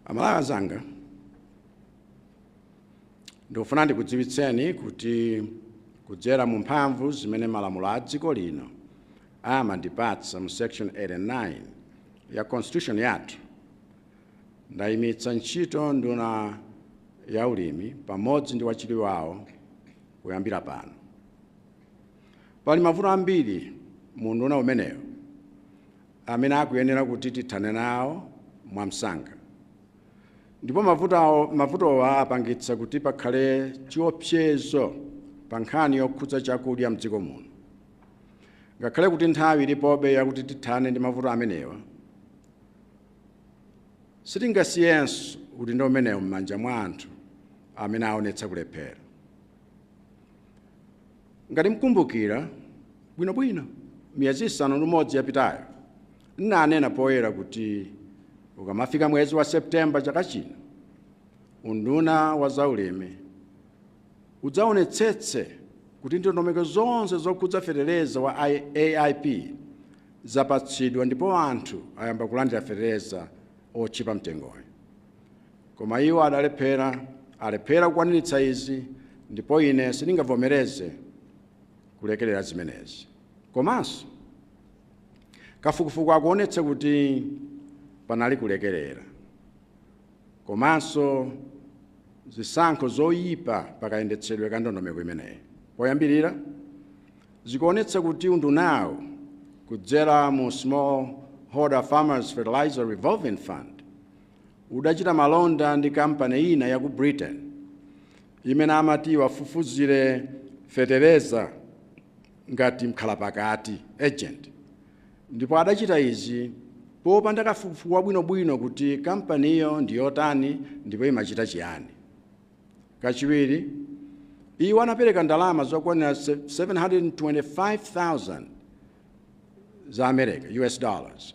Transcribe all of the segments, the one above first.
amalawi anzanga ndikufuna ndikudziwitseni kuti kudzera mu mphamvu zimene malamulo a dziko lino amandipatsa mu section 89 ya constitution yathu ndayimitsa ntchito nduna ya ulimi pamodzi ndi wachiwiri wawo kuyambira pano pali mavuto ambiri mu unduna umenewu amene akuyenera kuti tithane nawo mwamsanga. Ndipo mavutowa apangitsa kuti pakhale chiopsezo pa nkhani yokhudza chakudya m'dziko muno. Ngakhale kuti nthawi ilipobe yakuti tithane ndi mavuto amenewa, sitingasiyenso udindo umenewu m'manja mwa anthu amene aonetsa kulephera. Ngati mukumbukira bwinobwino, miyezi isanu ndi umodzi yapitayo, ndinanena poyera kuti ukamafika mwezi wa September chaka chino, Unduna wa Zaulimi udzaonetsetse kuti ndondomeko zonse zokhudza fetereza wa AIP zapatsidwa ndipo anthu ayamba kulandira fetereza otchipa mtengoyu. Koma iwo adalephera, alephera kukwaniritsa izi, ndipo ine sindingavomereze kulekerera zimenezi. Komanso, kafukufuku akuonetsa kuti panali kulekerera, komanso zisankho zoyipa pa kayendetsedwe ka ndondomeko imeneyi. Poyambirira, zikuonetsa kuti undunawu, kudzera mu Smallholder Farmers Fertilizer Revolving Fund, udachita malonda ndi kampani ina ya ku Britain imene amati iwafufuzire fetereza ngati mkhalapakati, agent, ndipo adachita izi popanda kafukufuku wabwinobwino kuti kampaniyo ndi yotani ndipo imachita chiyani. Kachiwiri, iwo anapereka ndalama zokwanira 725,000 za America, US dollars,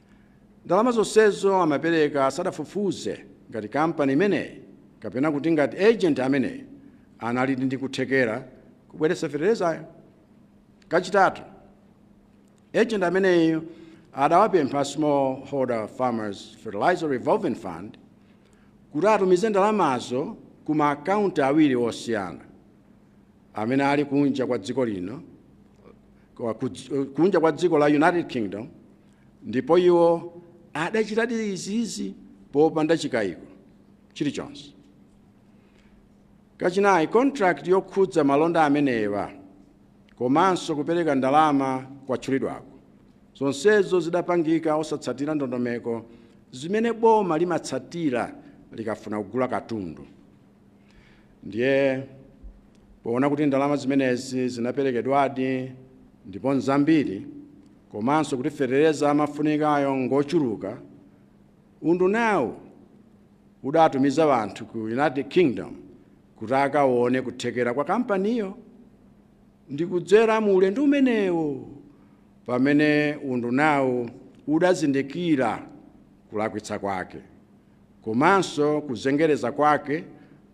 Ndalama zonsezo amapereka asadafufuze ngati kampani imeneyi kapena kuti ngati agent ameneyu analidi ndi kuthekera kubweretsa feterezayo. Kachitatu, agent ameneyu adawapempha Smallholder Farmers Fertilizer Revolving Fund kuti atumize ndalamazo ku ma akaunti awiri osiyana amene ali kunja kwa dziko lino kunja kwa dziko la United Kingdom Ndipo iwo adachitadi izizi popanda chikayiko chilichonse. Kachinayi, contract yokhudza malonda amenewa komanso kupereka ndalama kwatchulidwako, zonsezo zidapangika osatsatira ndondomeko zimene boma limatsatira likafuna kugula katundu. ndiye poona kuti ndalama zimenezi zinaperekedwadi ndipo nzambiri komanso kuti fetereza amafunikayo ngochuluka undunawu udatumiza anthu ku united kingdom kuti akaone kuthekera kwa kampaniyo ndikudzera mu ulendo umenewo pamene undunawu udazindikira kulakwitsa kwake komanso kuzengereza kwake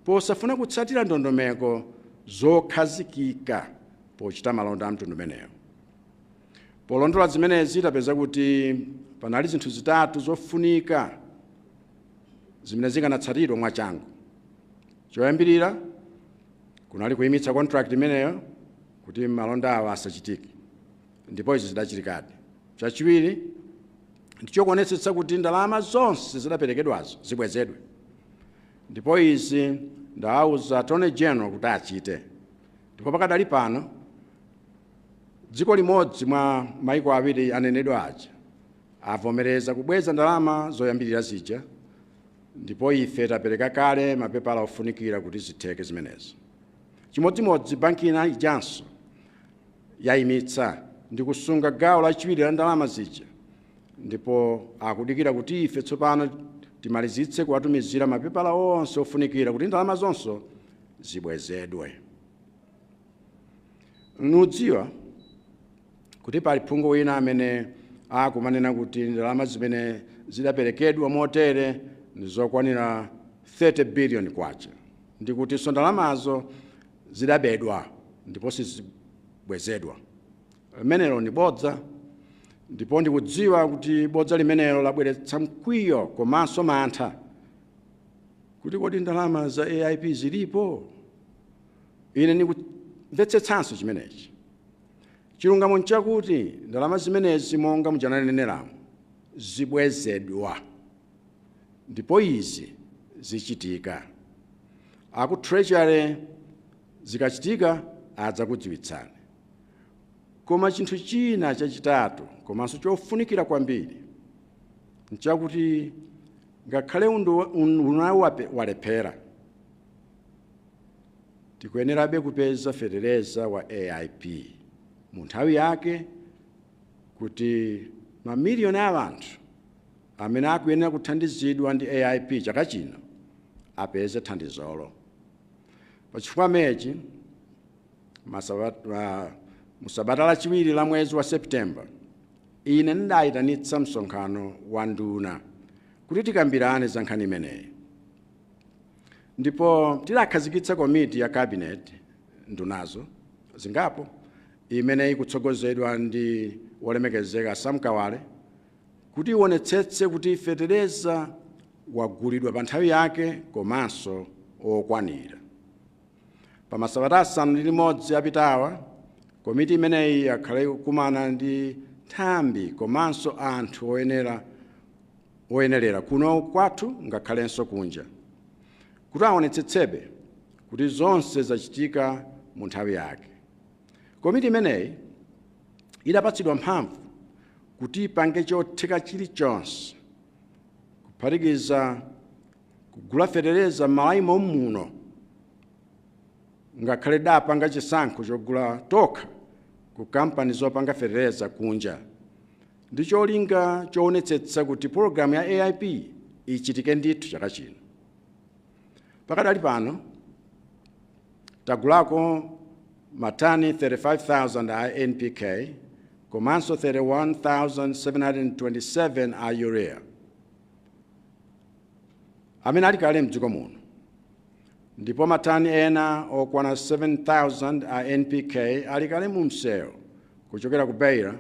posafuna kutsatira ndondomeko zokhazikika pochita malonda a mtundu umenewo. Polondola zimenezi tapeza kuti panali zinthu zitatu zofunika zimene zikanatsatidwa mwachangu. Choyambirira kunali kuimitsa contract imeneyo kuti malondawa asachitike. Ndipo izi zidachitikadi. Chachiwiri ndicho kuonetsetsa kuti ndalama zonse zidaperekedwazo zibwezedwe. Ndipo izi ndawauza Attorney General kuti achite. Ndipo pakadali pano dziko limodzi mwa maiko awiri anenedwa aja avomereza kubweza ndalama zoyambirira zija ndipo ife tapereka kale mapepala ofunikira kuti zitheke zimenezo. Chimodzimodzi banki ina ijanso yaimitsa ndi kusunga gawo lachiwiri la ndalama zija ndipo akudikira kuti ife tsopano timalizitse kuwatumizira mapepala onse ofunikira kuti ndalamazonso zibwezedwe. Ndikudziwa kuti pali phungu wina amene akumanena kuti ndalama zimene zidaperekedwa motere ndi zokwanira 30 billion kwacha ndi kutinso ndalamazo zidabedwa ndipo sizibwezedwa. Limenelo ndi bodza ndipo ndikudziwa kuti bodza limenelo labweretsa mkwiyo komanso mantha kuti kodi ndalama za AIP zilipo? Ine ndikumvetsetsanso chimenechi. Chilungamo nchakuti ndalama zimenezi monga muja ndaneneramu zibwezedwa ndipo izi zichitika. Aku Treasury zikachitika adzakudziwitsani. Koma chinthu china chachitatu komanso chofunikira kwambiri nchakuti ngakhale undunawu walephera, Tikuyenerabe kupeza fetereza wa AIP mu nthawi yake kuti mamiliyoni a anthu amene akuyenera kuthandizidwa ndi AIP chaka chino apeze thandizolo. Pa chifukwa chimenechi, mu sabata lachiwiri la mwezi wa September, ine ndidayitanitsa msonkhano wa nduna kuti tikambirane za nkhani imeneyi. Ndipo tidakhazikitsa komiti ya Cabinet, ndunazo, zingapo, imene ikutsogozedwa ndi Wolemekezeka Sam Kawale kuti iwonetsetse kuti fetereza wagulidwa pa nthawi yake komanso okwanira. Pa masabata asanu ndi limodzi apitawa, komiti imeneyi yakhala ikukumana ndi nthambi komanso anthu oyenera oyenerera kuno kwathu ngakhalenso kunja kuti aonetsetsebe kuti zonse zachitika mu nthawi yake. Komiti imeneyi idapatsidwa mphamvu kuti ipange chotheka chilichonse kuphatikiza kugula fetereza m'Malawi mommuno ngakhale tidapanga chisankho chogula tokha ku kampani zopanga fetereza kunja. ndi cholinga choonetsetsa kuti pologalamu ya AIP ichitike ndithu chaka chino. Pakadali pano, tagulako matani 35,000 a NPK komanso 31,727 a Urea. amene ali kale m'dziko muno ndipo matani ena okwana 7,000 a NPK ali kale mu msewu kuchokera ku Beira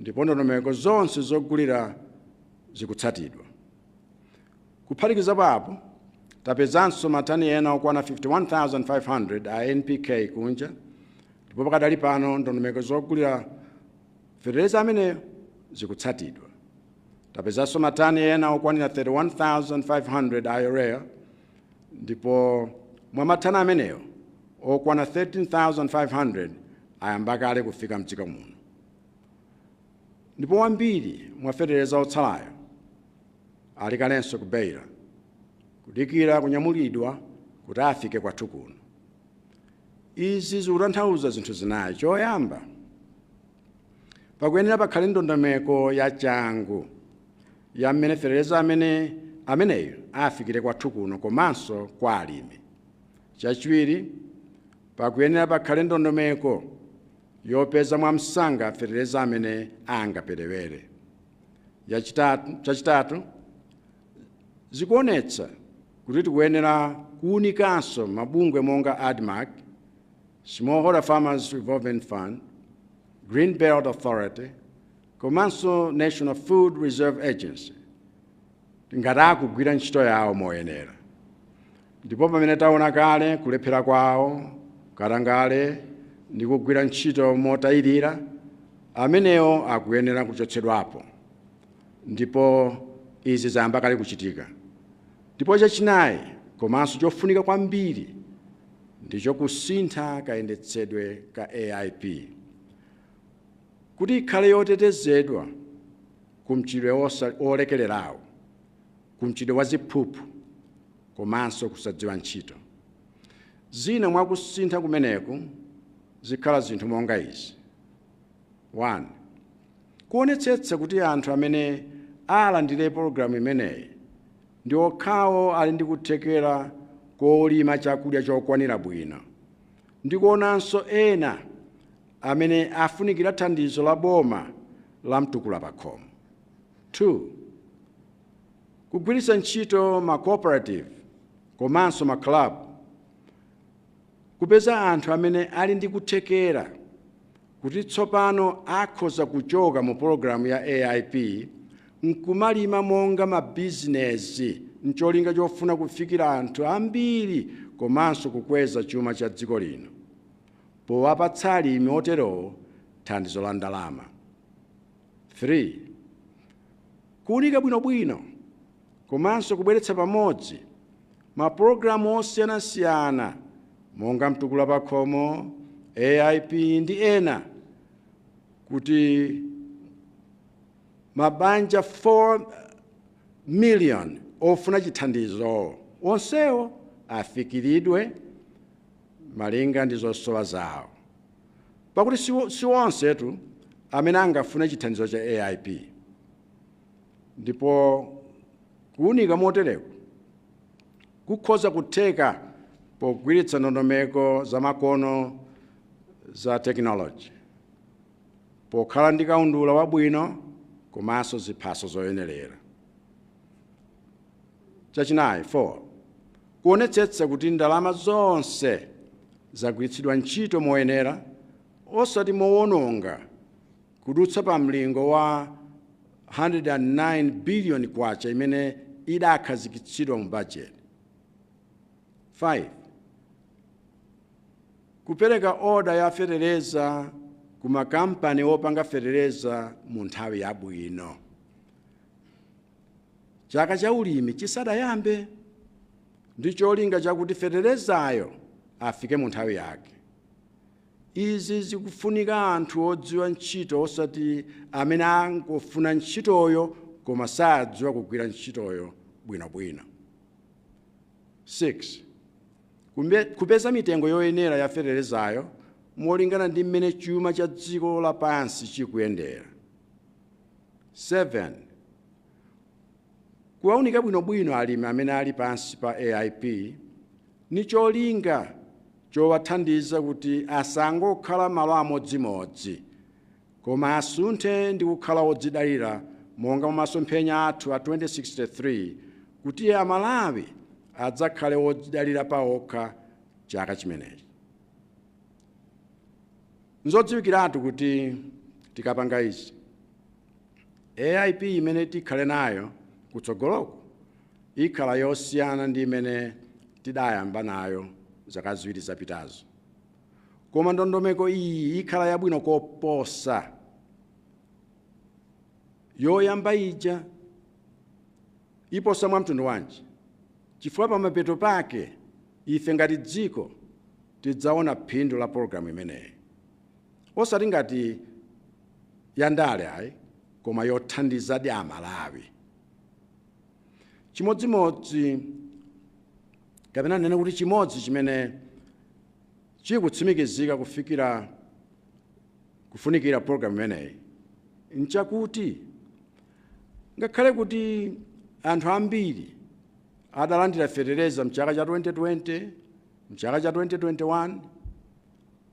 ndipo ndondomeko zonse zogulira zikutsatidwa. Kuphatikizapo apo, tapezanso matani ena okwana 51,500 a NPK kunja ndipo pakadali pano ndondomeko zogulira fetereza ameneyo zikutsatidwa. Tapezanso matani ena okwanira 31,500 a urea ndipo mwa matani amenewa, okwana 13,500 ayamba kale kufika m'dziko muno. Ndipo wambiri mwa fetereza wotsalayo ali kalenso ku Beira kudikira kunyamulidwa kuti afike kwathu kuno. Izi zikutanthauza zinthu zinayi. Choyamba, pakuyenera pakhale ndondomeko ya changu ya mmene fetereza amene ameneyo afikire kwathu kuno komanso kwa alimi chachiwiri pakuyenera pakhale ndondomeko yopeza mwamsanga fetereza amene angaperewere chachitatu zikuonetsa kuti tikuyenera kuunikanso mabungwe monga admarc Smallholder Farmers Revolving Fund, Greenbelt Authority komanso National Food Reserve Agency ngati akugwira ntchito yawo moyenera ndipo pamene taona kale kulephera kwawo katangale ndi kugwira ntchito motayirira amenewo akuyenera kuchotsedwapo ndipo izi zayamba kale kuchitika ndipo chachinayi komanso chofunika kwambiri ndicho kusintha kayendetsedwe ka AIP kuti ikhale yotetezedwa ku mchitidwe wolekelerawo, ku mchitidwe wa ziphuphu komanso kusadziwa ntchito. Zina mwa kusintha kumeneku zikhala zinthu monga izi, 1. Kuonetsetsa kuti anthu amene alandire pologalamu imeneyi ndi okhawo ali ndi kuthekera kolima chakudya chokwanira bwino ndi kuonanso ena amene afunikira thandizo la boma la mtukula pakhomo. 2, Kugwiritsa ntchito ma cooperative komanso ma club. Kupeza anthu amene ali ndi kuthekera kuti tsopano akhoza kuchoka mu pologalamu ya AIP nkumalima monga mabizinesi ncholinga chofuna kufikira anthu ambiri komanso kukweza chuma cha dziko lino powapatsa alimi oterowo thandizo la ndalama. 3, Kuunika bwinobwino komanso kubweretsa pamodzi mapologalamu osiyanasiyana monga Mtukula Pakhomo, AIP ndi ena kuti mabanja 4 million ofuna chithandizo onsewo afikiridwe malinga ndi zosowa zawo, pakuti si onsetu amene angafune chithandizo cha AIP. Ndipo kuunika motereko kukhoza kutheka pogwiritsa ndondomeko zamakono za tekinoloje, pokhala ndi kaundula wabwino komanso ziphaso zoyenerera. Chachinayi, 4. Kuonetsetsa kuti ndalama zonse zagwiritsidwa ntchito moyenera osati mowononga. kudutsa pa mlingo wa 109 biliyoni kwacha imene idakhazikitsidwa mu bajeti. 5, Kupereka oda ya fetereza ku makampani opanga fetereza mu nthawi yabwino chaka cha ulimi chisadayambe ndi cholinga chakuti feterezayo afike mu nthawi yake. Izi zikufunika anthu odziwa ntchito osati amene angofuna ntchitoyo koma sadziwa kugwira ntchitoyo bwinobwino. 6, Kupeza mitengo yoyenera ya feterezayo molingana ndi mmene chuma cha dziko lapansi chikuyendera. 7, Kuwaunika bwinobwino alimi amene ali pansi pa AIP ni cholinga chowathandiza kuti asangokhala malo amodzimodzi, koma asunthe ndi kukhala odzidalira monga mwa masomphenya athu a 2063 kuti Amalawi adzakhale odzidalira paokha chaka chimenechi. N'zodziwikiratu kuti tikapanga izi. AIP imene tikhale nayo kutsogoloko ikhala yosiyana ndi imene tidayamba nayo zaka ziwiri zapitazo. Koma ndondomeko iyi ikhala yabwino koposa yoyamba ija. Iposa mwamtundu wanji? Chifukwa pamapeto pake ife ngati dziko tidzaona phindu la pologalamu imeneyi. osati ngati yandale ayi koma yothandizadi Amalawi chimodzimodzi kapena ninene kuti chimodzi chimene chikutsimikizika kufikira kufunikira programu imeneyi nchakuti ngakhale kuti anthu ambiri adalandira fetereza mchaka cha 2020 mchaka cha 2021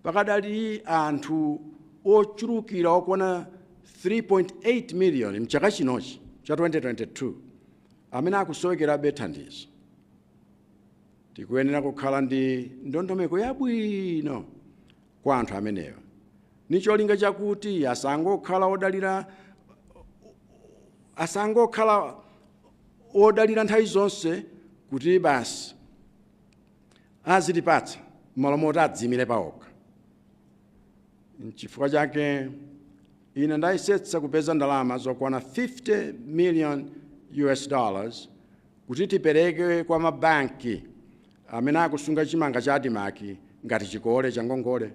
Pakadali anthu ochulukira okwana 3.8 million mchaka chinochi cha 2022 amene akusowekerabe thandizo. Tikuyenera kukhala ndi ndondomeko yabwino kwa anthu amenewa nicholinga chakuti asangokhala odalira asangokhala odalira nthawi zonse kuti basi azitipatsa m'malo moti adziimire paokha. N'chifukwa chake ine ndayesetsa kupeza ndalama zokwana 50 miliyoni US dollars kuti tipereke kwa mabanki amene akusunga chimanga cha Admarc ngati chikole cha ngongole,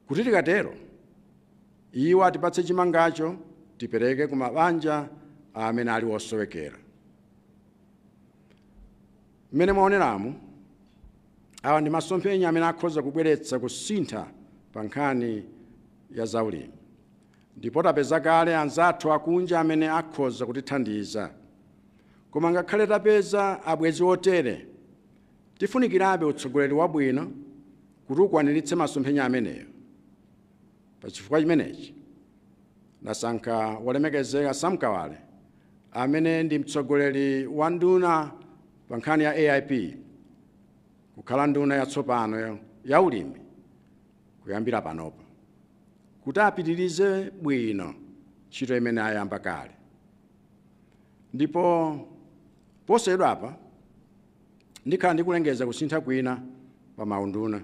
kuti tikatero iwo atipatse chimangacho tipereke ku mabanja amene ali osowekera. Mmene mwaoneramu, awa ndi masomphenya amene akhoza kubweretsa kusintha pa nkhani ya zaulimi ndipo tapeza kale anzathu akunja amene akhoza kutithandiza. Koma ngakhale tapeza abwenzi otere, tifunikirabe utsogoleri wabwino kuti ukwaniritse masomphenya amenewa. Pachifukwa chimenechi, ndasankha Wolemekezeka Sam Kawale amene ndi mtsogoleri wa nduna pa nkhani ya AIP kukhala nduna yatsopano ya ulimi kuyambira panopa kuti apitirize bwino ntchito imene ayamba kale ndipo posachedwapa ndikhala ndikulengeza kusintha kwina pa maunduna.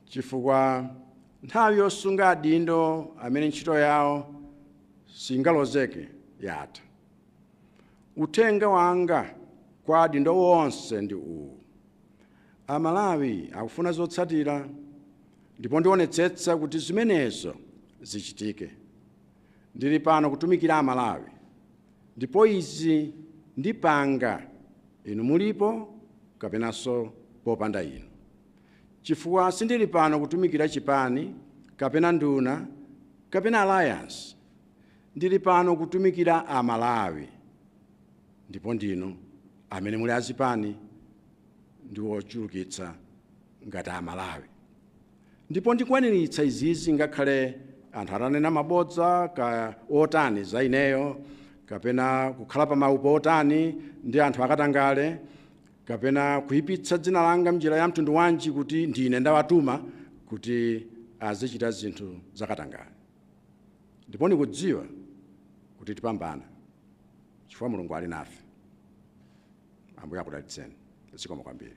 Chifukwa nthawi yosunga adindo amene ntchito yawo singalozeke yatha. Uthenga wanga kwa adindo onse ndi uwu, a Malawi akufuna zotsatira ndipo ndionetsetsa kuti zimenezo zichitike. Ndili pano kutumikira a Malawi ndipo izi ndipanga inu mulipo kapenanso popanda inu. chifukwa sindili pano kutumikira chipani kapena nduna kapena alliance ndili pano kutumikira a Malawi ndipo ndinu amene muli azipani ndi ochulukitsa ngati a Malawi ndipo ndikwaniritsa izizi ngakhale anthu atanena mabodza otani za ineyo kapena kukhala pa maupo otani ndi anthu akatangale kapena kuipitsa dzina langa m'njira ya mtundu wanji kuti ndine ndawatuma kuti azichita zinthu zakatangale? Ndipo nikudziwa kuti tipambana chifukwa Mulungu ali nafe. Ambuye akudalitseni. Zikomo kwambiri.